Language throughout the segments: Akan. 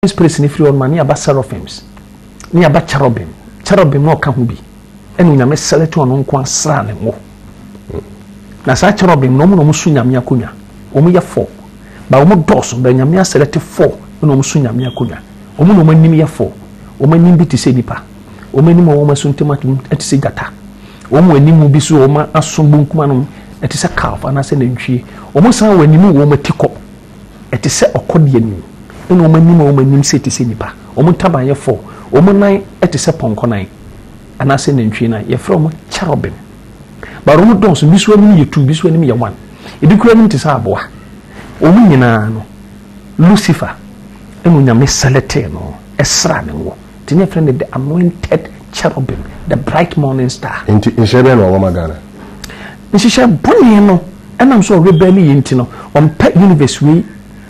Holy Spirit no firi hɔ no ma ne aba seraphims ne aba cherubim cherubim na ɔka ho bi ɛna onyame selɛte ɔno nko asra ne ngo na saa cherubim na ɔmo na ɔmo so nyame akonnwa ɔmo yɛ fɔ ba ɔmo dɔɔso bɛ nyame asɛlɛte fɔ na ɔmo so nyame akonnwa ɔmo na ɔmo anim yɛ fɔ ɔmo anim bi te sɛ nipa ɔmo anim a ɔmo aso ntɛm atom ɛte sɛ gyata ɔmo anim bi so ɔmo aso bonkum anom ɛte sɛ calf anaasɛ nantwie ɔmo san wɔ anim wɔ ɔmo ati kɔ Ɛte sɛ ɔkɔ deɛ nim, ɛna wɔn anim a wɔn anim se te sɛ nnipa, wɔn ntaban yɛ fɔɔ, wɔn nan te sɛ pɔnkɔ nan, anaasɛ nantwie nan. Yɛfrɛ wɔn kyerɔbim. Bara wɔn dɔɔso, ebi so anim yɛ tu, ebi so anim yɛ wan, ebi kura anim te sɛ aboa. Wɔn nyinaa no, Lucifer ɛna onyame sɛlɛtee no, ɛsra ne ngo. nti ne yɛfrɛ no the anointed cherubim the bright morning star. nti nhyehyɛ bɛn na wɔwɔ ma ghana. nhyehyɛ bɔne no ɛnam so ɔrebɛn ne yɛ nti no ɔmpɛ universe wei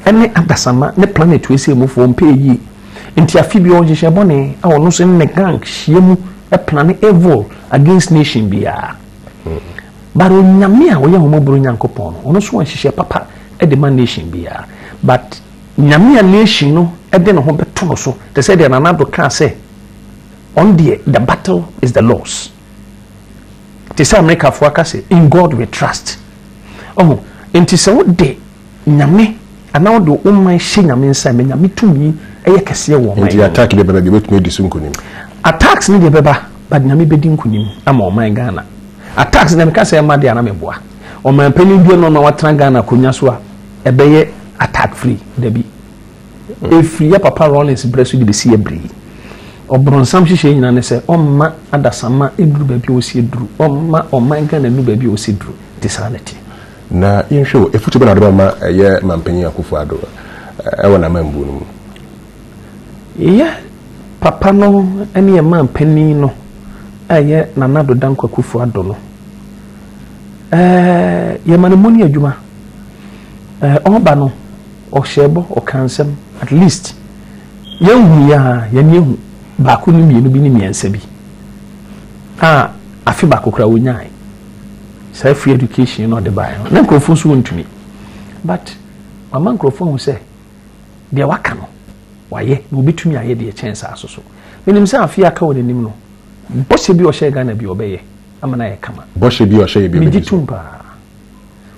ɛne adasama ne planet wei sɛ emufoɔ ɔmpɛ yie nti afi bi ɔnhyehyɛ bɔne a ɔno nso ne gang hyia mu ɛplane evil against nation biara hmm. but onyame a ɔyɛ ahomɔborɔ nyankopɔn no ɔno nso ɔnhyehyɛ papa ɛde ma nation biara but Nyame a nation no de ne ho bɛto no so te sɛ deɛ Nana Addo kaa sɛ ɔno deɛ the battle is the Lord's. Te sɛ Amerikafoɔ aka sɛ in God we trust. Ɔho, nti sɛ wode Nyame anaa wode wo man hyɛ Nyame nsa ma Nyame tumi yɛ kɛseɛ wɔ ɔman no. Nti attack deɛ bɛba deɛ obɛtumi adi so nkunim. Attacks ne deɛ bɛba but Nyame bɛdi nkunim ama ɔman Ghana. Attacks deɛ meka sɛ ɛma deɛ ana meboa. Ɔman panin biara na ɔma watena Ghana akonya so a Ɛbɛyɛ attack free? Dabi. Ɛfiri yɛ papa Rawlings berɛ so de bɛsi yɛ berɛ yi, ɔbronsam hyehyɛɛ nyinaa ne sɛ ɔmma adasamma nnuru baabi a ɔsɛ duru, ɔmma ɔman Ghana nnuru baabi a ɔsɛ duru. Nti saa na ɛteɛ. Na yɛnhwɛ o, afutuo bɛn na wode bɛma yɛ Manpanyin Akuffo Addo wɔ n'amambuo no mu? Yɛ papa no ne yɛ Manpanyin no a ɛyɛ Nana Addo Dankwa Akuffo Addo no, yɛma no money adwuma. Eh, ɔba no, ɔhyɛɛ bɔ, ɔka nsɛm, at least yɛnhu yɛ a yɛne ehu baako ne mmienu bi ne mmiɛnsa bi a afe baako koraa wonyae saa free education na ɔde baeɛ no na nkurɔfoɔ nso wɔntumi but wama nkurɔfoɔ ahu sɛ deɛ waka no wayɛ na obɛtumi ayɛ deɛ kyɛn saa so so menim sɛ afe aka wɔ n'anim no bɔhyɛ bi ɔhyɛ ghana bi ɔbɛyɛ ama no ayɛ kama bɔhyɛ bi ɔhyɛ yɛ bi megye tom paa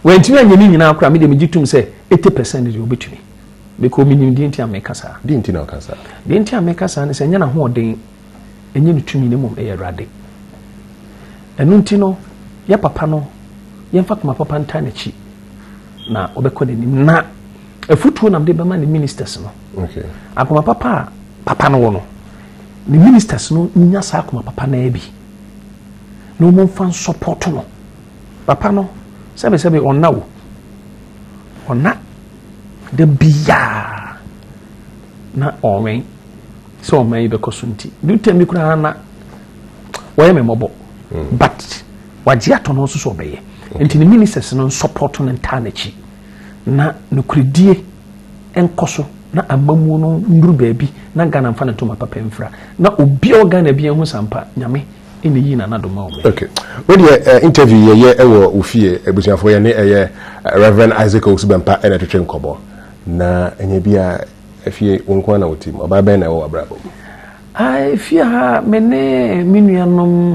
Wantumi anyɛ ne nyinaa koraa, me deɛ megye tom sɛ eighty percent deɛ ɔbɛtumi because menim deɛ nti a meka saa. Deɛ nti na ɔka saa? Deɛ nti a meka saa ne sɛ ɛnyɛ n'ahoɔden, ɛnyɛ ne tumi, na mmom ɛyɛ Awurade. Ɛno nti no, yɛ papa no, yɛmfa koma papa ntaa n'akyi na ɔbɛkɔ n'anim na afutuo nam de bɛma ne ministers no. Okay. Akoma papa a papa no wɔ no, ne ministers no nya saa akoma papa no bi na wɔmfa nsɔpɔto no Papa no sɛbesɛbe ɔnna o, ɔnna da biara na ɔwɛn sɛ ɔman yi bɛkɔ so nti do tɛm bi koraa na wɔyɛ me mmɔbɔ hmm. but wagye atɔ no nso so ɔbɛyɛ nti ne ministers no nsɔpɔto no ntaa n'akyi na nokoredie nkɔ so na amamuo no nnuru baabi na ghana mfa ne ntoma papa mfira na obiara ghana bi ahu sampa nyame ɛna yii nanado ma wɔn. Okay. Wo deɛ eh, interview yɛ yɛ ɛwɔ eh, wo fie abusuafoɔ yɛ ne ɛyɛ eh, Reverend Isaac Owusu Bɛmpa ɛna ɛtwetwe nkɔbɔ na ɛnyɛ bi a ɛfie wo nko na wo tim ɔbaa bɛn na ɛwɔ w'abrabɔ mu? Ah, ɛfie ha me ne me nuanom